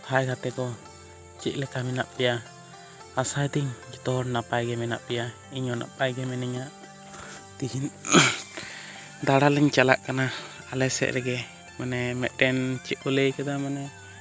ᱦᱟᱭ ᱜᱟᱛᱮ ᱠᱚ ᱪᱮᱫ ᱞᱮᱠᱟ ᱢᱮᱱᱟᱜ ᱯᱮᱭᱟ ᱟᱥᱟᱭ ᱫᱤᱧ ᱡᱚᱛᱚ ᱦᱚᱲ ᱱᱟᱯᱟᱭ ᱜᱮ ᱢᱮᱱᱟᱜ ᱯᱮᱭᱟ ᱤᱧ ᱦᱚᱸ ᱱᱟᱯᱟᱭ ᱜᱮ ᱢᱤᱱᱟᱹᱧᱟ ᱛᱤᱦᱤᱧ ᱫᱟᱬᱟᱱ ᱞᱤᱧ ᱪᱟᱞᱟᱜ ᱠᱟᱱᱟ ᱟᱞᱮ ᱥᱮᱫ ᱨᱮᱜᱮ ᱢᱟᱱᱮ ᱢᱤᱫᱴᱮᱱ ᱪᱮᱫ ᱠᱚ ᱞᱟᱹᱭ ᱠᱮᱫᱟ ᱢᱟᱱᱮ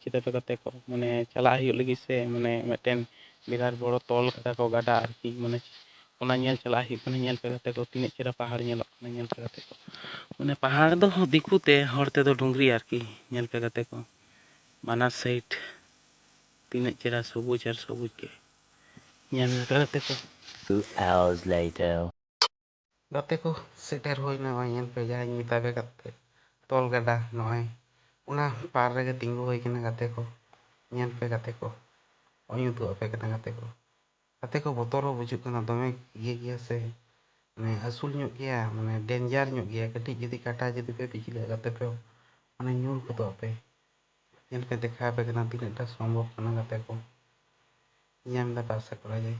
ᱪᱤᱛᱟᱹᱨ ᱫᱚ ᱜᱟᱛᱮ ᱠᱚ ᱢᱟᱱᱮ ᱪᱟᱞᱟᱜ ᱦᱩᱭᱩᱜ ᱞᱟᱹᱜᱤᱫ ᱥᱮ ᱢᱟᱱᱮ ᱢᱤᱫᱴᱮᱱ ᱵᱤᱨᱟᱴ ᱵᱚᱲᱚ ᱛᱚᱞ ᱠᱟᱫᱟ ᱠᱚ ᱜᱟᱰᱟ ᱟᱨᱠᱤ ᱢᱟᱱᱮ ᱚᱱᱟ ᱧᱮᱞ ᱪᱟᱞᱟᱜ ᱦᱩᱭᱩᱜ ᱠᱟᱱᱟ ᱧᱮᱞ ᱯᱮ ᱜᱟᱛᱮ ᱠᱚ ᱛᱤᱱᱟᱹᱜ ᱪᱮᱦᱨᱟ ᱯᱟᱦᱟᱲ ᱧᱮᱞᱚᱜ ᱠᱟᱱᱟ ᱧᱮᱞ ᱯᱮ ᱜᱟᱛᱮ ᱠᱚ ᱢᱟᱱᱮ ᱯᱟᱦᱟᱲ ᱫᱚ ᱫᱤᱠᱩ ᱛᱮ ᱦᱚᱲ ᱛᱮᱫᱚ ᱰᱩᱝᱨᱤ ᱟᱨᱠᱤ ᱧᱮᱞ ᱯᱮ ᱜᱟᱛᱮ ᱠᱚ ᱵᱟᱱᱟᱨ ᱥᱟᱭᱤᱰ ᱛᱤᱱᱟᱹᱜ ᱪᱮᱦᱨᱟ ᱥᱚᱵᱩᱡᱽ ᱟᱨ ᱥᱚᱵᱩᱡᱽ ᱜᱮ ᱧᱮᱞ ᱯᱮ ᱜᱟᱛᱮ ᱠᱚ ᱜᱟᱛᱮ ᱠᱚ ᱥᱮᱴᱮᱨ ᱦᱩᱭ ᱮᱱᱟ ᱱᱚᱜᱼᱚᱭ ᱧᱮᱞ ᱯᱮ ᱡᱟᱦᱟᱸᱧ ᱢᱮᱛᱟ ᱯᱮ ᱠᱟᱛᱮ ᱛᱚᱞ ᱜᱟᱰᱟ ᱱᱚᱜᱼᱚᱭ ᱚᱱᱟ ᱯᱟᱨ ᱨᱮᱜᱮ ᱛᱤᱸᱜᱩ ᱦᱩᱭ ᱟᱠᱟᱱᱟ ᱜᱟᱛᱮ ᱠᱚ ᱧᱮᱞ ᱯᱮ ᱜᱟᱛᱮ ᱠᱚ ᱱᱚᱜᱼᱚᱭ ᱩᱫᱩᱜ ᱟᱯᱮ ᱠᱟᱱᱟ ᱜᱟᱛᱮ ᱠᱚ ᱜᱟᱛᱮ ᱠᱚ ᱵᱚᱛᱚᱨ ᱦᱚᱸ ᱵᱩᱡᱩᱜ ᱠᱟᱱᱟ ᱫᱚᱢᱮ ᱤᱭᱟᱹ ᱜᱮᱭᱟ ᱥᱮ ᱢᱟᱱᱮ ᱦᱟᱹᱥᱩᱞ ᱧᱚᱜ ᱜᱮᱭᱟ ᱢᱟᱱᱮ ᱰᱮᱱᱡᱟᱨ ᱧᱚᱜ ᱜᱮᱭᱟ ᱠᱟᱹᱴᱤᱡ ᱡᱩᱫᱤ ᱠᱟᱴᱟ ᱡᱩᱫᱤ ᱯᱮ ᱯᱤᱪᱷᱞᱟᱹᱜᱼᱟ ᱜᱟᱛᱮ ᱠᱚ ᱢᱟᱱᱮ ᱧᱩᱨ ᱜᱚᱫᱚᱜ ᱟᱯᱮ ᱧᱮᱞ ᱯᱮ ᱫᱮᱠᱷᱟᱣ ᱟᱯᱮ ᱠᱟᱱᱟ ᱛᱤᱱᱟᱹᱜ ᱴᱟ ᱥᱚᱢᱵᱷᱚᱵ ᱠᱟᱱᱟ ᱜᱟᱛᱮ ᱠᱚ ᱧᱟᱢ ᱫᱟ ᱯᱮ ᱟᱥᱟ ᱠᱚᱨᱟ ᱡᱟᱭ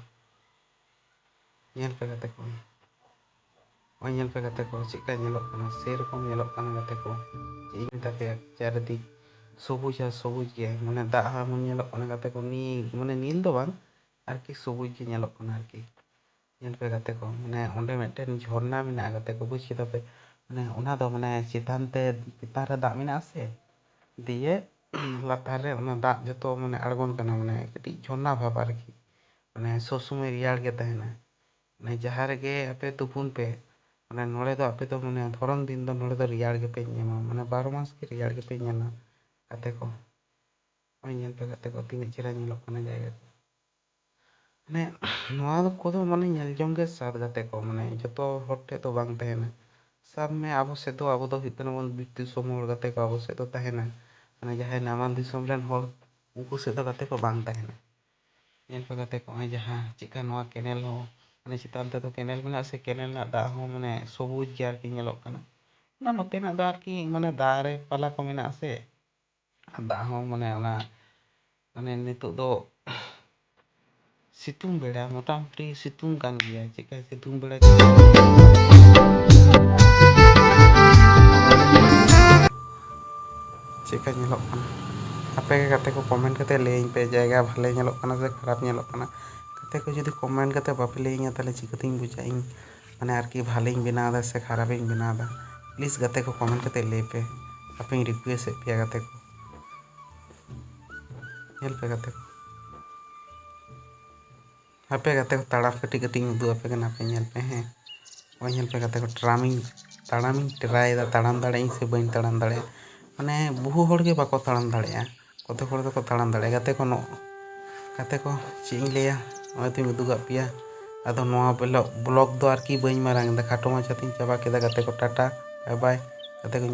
ᱧᱮᱞ ᱯᱮ ᱜᱟᱛᱮ ᱠᱚ ᱱᱚᱜᱼᱚᱭ ᱧᱮᱞ ᱯᱮ ᱜᱟᱛᱮ ᱠᱚ ᱪᱮᱫᱠᱟ ᱧᱮᱞᱚᱜ ᱠᱟᱱᱟ ᱥᱮᱨᱚᱠᱚᱢ ᱧᱮᱞᱚᱜ ᱠᱟᱱᱟ ᱜᱟᱛᱮ ᱠᱚ ᱪᱮᱫ ᱤᱧ ᱢᱮᱛᱟ ᱯᱮᱭᱟ ᱪᱟᱨᱤᱫᱤᱠ ᱥᱚᱵᱩᱡ ᱟᱨ ᱥᱚᱵᱩᱡ ᱜᱮ ᱢᱟᱱᱮ ᱫᱟᱜ ᱦᱚᱸ ᱮᱢᱚᱱ ᱧᱮᱞᱚᱜ ᱠᱟᱱᱟ ᱜᱟᱛᱮ ᱠᱚ ᱱᱤᱞ ᱢᱟᱱᱮ ᱱᱤᱞ ᱫᱚ ᱵᱟᱝ ᱟᱨᱠᱤ ᱥᱚᱵᱩᱡ ᱜᱮ ᱧᱮᱞᱚᱜ ᱠᱟᱱᱟ ᱟᱨᱠᱤ ᱧᱮᱞ ᱯᱮ ᱜᱟᱛᱮ ᱠᱚ ᱢᱟᱱᱮ ᱚᱸᱰᱮ ᱢᱤᱫᱴᱮᱱ ᱡᱷᱚᱨᱱᱟ ᱢᱮᱱᱟᱜᱼᱟ ᱜᱟᱛᱮ ᱠᱚ ᱵᱩᱡᱽ ᱠᱮᱫᱟ ᱯᱮ ᱢᱟᱱᱮ ᱚᱱᱟ ᱫᱚ ᱢᱟᱱᱮ ᱪᱮᱛᱟᱱ ᱛᱮ ᱪᱮᱛᱟᱱ ᱨᱮ ᱫᱟᱜ ᱢᱮᱱᱟᱜᱼᱟ ᱥᱮ ᱫᱤᱭᱮ ᱞᱟᱛᱟᱨ ᱨᱮ ᱚᱱᱟ ᱫᱟᱜ ᱡᱚᱛᱚ ᱢᱟᱱᱮ ᱟᱬᱜᱚᱱ ᱠᱟᱱᱟ ᱢᱟᱱᱮ ᱠᱟᱹᱴᱤᱡ ᱡᱷᱚᱨᱱᱟ ᱵᱷᱟᱵᱽ ᱟᱨᱠᱤ ᱢᱟᱱᱮ ᱥᱚᱵᱽ ᱥᱚᱢᱚᱭ ᱨᱮᱭᱟᱲ ᱜᱮ ᱛᱟᱦᱮᱱᱟ ᱢᱟᱱᱮ ᱡᱟᱦᱟᱸ ᱨᱮᱜᱮ ᱟᱯᱮ ᱛᱩᱯᱩᱱ ᱯᱮ ᱢᱟᱱᱮ ᱱᱚᱰᱮ ᱫᱚ ᱟᱯᱮ ᱫᱚ ᱢᱟᱱᱮ ᱫᱷᱚᱨᱚᱱ ᱫᱤᱱ ᱫᱚ ᱱᱚᱰᱮ ᱫᱚ ᱨᱮᱭᱟᱲ ᱜᱮᱯᱮ ᱧᱟᱢᱟ ᱢᱟᱱᱮ ᱵᱟᱨᱚ ᱢᱟᱥ ᱜᱮ ᱨᱮᱭᱟᱲ ᱜᱮᱯᱮ ᱧᱟᱢᱟ ᱜᱟᱛᱮ ᱠᱚ ᱱᱚᱜᱼᱚᱭ ᱧᱮᱞ ᱯᱮ ᱜᱟᱛᱮ ᱠᱚ ᱛᱤᱱᱟᱹᱜ ᱪᱮᱦᱨᱟ ᱧᱮᱞᱚᱜ ᱠᱟᱱᱟ ᱡᱟᱭᱜᱟ ᱠᱚ ᱢᱟᱱᱮ ᱱᱚᱣᱟ ᱫᱚ ᱠᱚᱫᱚ ᱢᱟᱱᱮ ᱧᱮᱞ ᱡᱚᱝ ᱜᱮ ᱥᱟᱫ ᱜᱟᱛᱮ ᱠᱚ ᱢᱟᱱᱮ ᱡᱚᱛᱚ ᱦᱚᱲ ᱴᱷᱮᱡ ᱫᱚ ᱵᱟᱝ ᱛᱟᱦᱮᱱᱟ ᱥᱟᱵ ᱢᱮ ᱟᱵᱚ ᱥᱮᱫ ᱫᱚ ᱟᱵᱚ ᱫᱚ ᱦᱩᱭᱩᱜ ᱠᱟᱱᱟ ᱵᱚᱱ ᱵᱤᱨ ᱫᱤᱥᱚᱢ ᱦᱚᱲ ᱜᱟᱛᱮ ᱠᱚ ᱟᱵᱚ ᱥᱮᱫ ᱫᱚ ᱛᱟᱦᱮᱱᱟ ᱢᱟᱱᱮ ᱡᱟᱦᱟᱸᱭ ᱱᱟᱢᱟᱞ ᱫᱤᱥᱚᱢ ᱨᱮᱱ ᱦᱚᱲ ᱩᱱᱠᱩ ᱥᱮᱫ ᱫᱚ ᱜᱟᱛᱮ ᱠᱚ ᱵᱟᱝ ᱛᱟᱦᱮᱱᱟ ᱧᱮᱞ ᱯᱮ ᱜᱟᱛᱮ ᱠᱚ ᱱᱚᱜᱼᱚᱭ ᱡᱟᱦᱟᱸ ᱪᱮᱫ ᱠᱟ ᱱᱚᱣᱟ ᱠᱮᱱᱮᱞ ᱦᱚᱸ ᱢᱟᱱᱮ ᱪᱮᱛᱟᱱ ᱛᱮᱫᱚ ᱠᱮᱱᱮᱞ ᱢᱮᱱᱟᱜ ᱟᱥᱮ ᱠᱮᱱᱮᱞ ᱨᱮᱱᱟᱜ ᱫᱟᱜ ᱦᱚᱸ ᱢᱟᱱᱮ ᱥᱚᱵᱩᱡᱽ ᱜᱮ ᱟᱨᱠᱤ ᱧᱮᱞᱚᱜ ᱠᱟᱱᱟ ᱚᱱᱟ ᱱᱚᱛᱮᱱᱟᱜ ᱫᱚ ᱟᱨᱠᱤ ᱢᱟᱱᱮ ᱫᱟᱨᱮ ᱯᱟᱞᱟ ᱠᱚ ᱢᱮᱱᱟᱜ ᱟᱥᱮ ᱫᱟᱜ ᱦᱚᱸ ᱢᱟᱱᱮ ᱚᱱᱟ ᱢᱟᱱᱮ ᱱᱤᱛᱚᱜ ᱫᱚ ᱥᱤᱛᱩᱝ ᱵᱮᱲᱟ ᱢᱚᱴᱟᱢᱩᱴᱤ ᱥᱤᱛᱩᱝ ᱠᱟᱱ ᱜᱮᱭᱟ ᱪᱮᱫᱠᱟ ᱥᱤᱛᱩᱝ ᱵᱮᱲᱟ ᱪᱮᱫᱠᱟ ᱧᱮᱞᱚᱜ ᱠᱟᱱᱟ ᱟᱯᱮ ᱜᱮ ᱜᱟᱛᱮ ᱠᱚ ᱠᱚᱢᱮᱱᱴ ᱠᱟᱛᱮ ᱞᱟᱹᱭᱟᱹᱧ ᱯᱮ ᱡᱟᱭᱜᱟ ᱵᱷᱟᱞᱮ ᱧᱮᱞᱚᱜ ᱠᱟᱱᱟ ᱥᱮ ᱠᱷᱟᱨᱟᱯ ᱧᱮᱞᱚᱜ ᱠᱟᱱᱟ ᱜᱟᱛᱮ ᱠᱚ ᱡᱩᱫᱤ ᱠᱚᱢᱮᱱᱴ ᱠᱟᱛᱮ ᱵᱟᱯᱮ ᱞᱟᱹᱭᱟᱹᱧᱟ ᱛᱟᱦᱚᱞᱮ ᱪᱤᱠᱟᱹᱛᱤᱧ ᱵᱩᱡᱟ ᱤᱧ ᱢᱟᱱᱮ ᱟᱨᱠᱤ ᱵᱷᱟᱞᱮᱧ ᱵᱮᱱᱟᱣ ᱮᱫᱟ ᱥᱮ ᱠᱷᱟᱨᱟᱯ ᱤᱧ ᱵᱮᱱᱟᱣ ᱮᱫᱟ ᱯᱞᱤᱡᱽ ᱜᱟᱛᱮ ᱠᱚ ᱠᱚᱢᱮᱱᱴ ᱠᱟᱛᱮ ᱞᱟᱹᱭ ᱯᱮ ᱟᱯᱮᱧ ᱨᱤᱠᱩᱭᱮᱥᱴ ᱮᱫ ᱯᱮᱭᱟ ᱜᱟᱛᱮ ᱠᱚ ᱧᱮᱞ ᱯᱮ ᱜᱟᱛᱮ ᱠᱚ ᱦᱟᱯᱮ ᱜᱟᱛᱮ ᱠᱚ ᱛᱟᱲᱟᱢ ᱠᱟᱹᱴᱤᱡ ᱠᱟᱹᱴᱤᱡ ᱤᱧ ᱩᱫᱩᱜ ᱟᱯᱮ ᱠᱟᱱᱟ ᱯᱮ ᱧᱮᱞ ᱯᱮ ᱦᱮᱸ ᱱᱚᱜᱼᱚᱭ ᱧᱮᱞ ᱯᱮ ᱜᱟᱛᱮ ᱠᱚ ᱴᱨᱟᱢᱤᱧ ᱛᱟᱲᱟᱢᱤᱧ ᱴᱨᱟᱭ ᱮᱫᱟ ᱛᱟᱲᱟᱢ ᱫᱟᱲᱮᱭᱟᱜ ᱟᱹᱧ ᱥᱮ ᱵᱟᱹᱧ ᱛᱟᱲᱟᱢ ᱫᱟᱲᱮᱭᱟᱜᱼᱟ ᱢᱟᱱᱮ ᱵᱚᱦᱩ ᱦᱚᱲ ᱜᱮ ᱵᱟᱠᱚ ᱛᱟᱲᱟᱢ ᱫᱟᱲᱮᱭᱟᱜᱼᱟ ᱠᱚᱛᱮ ᱦᱚᱲ ᱫᱚᱠᱚ ᱛᱟᱲᱟᱢ ᱫᱟᱲᱮᱭᱟᱜᱼᱟ ᱜᱟᱛᱮ ᱠᱚ ᱱᱚᱜ ᱜᱟᱛᱮ ᱠᱚ ᱪᱮᱫ ᱤᱧ ᱞᱟᱹᱭᱟ ᱱᱚᱜᱼᱚᱭ ᱛᱚᱧ ᱩᱫᱩᱜᱟᱫ ᱯᱮᱭᱟ ᱟᱫᱚ ᱱᱚᱣᱟ ᱵᱞᱚᱜᱽ ᱫᱚ ᱟᱨᱠᱤ ᱵᱟᱹᱧ ᱢᱟᱨᱟᱝ ᱮᱫᱟ ᱠᱷᱟᱴᱚ ᱢᱟᱪᱷᱟ ᱛᱮᱧ ᱪᱟᱵᱟ ᱠᱮᱫᱟ ᱜᱟᱛᱮ ᱠᱚ ᱴᱟᱴᱟ ᱵᱟᱭ ᱵᱟᱭ ᱜᱟᱛᱮ ᱠᱚᱧ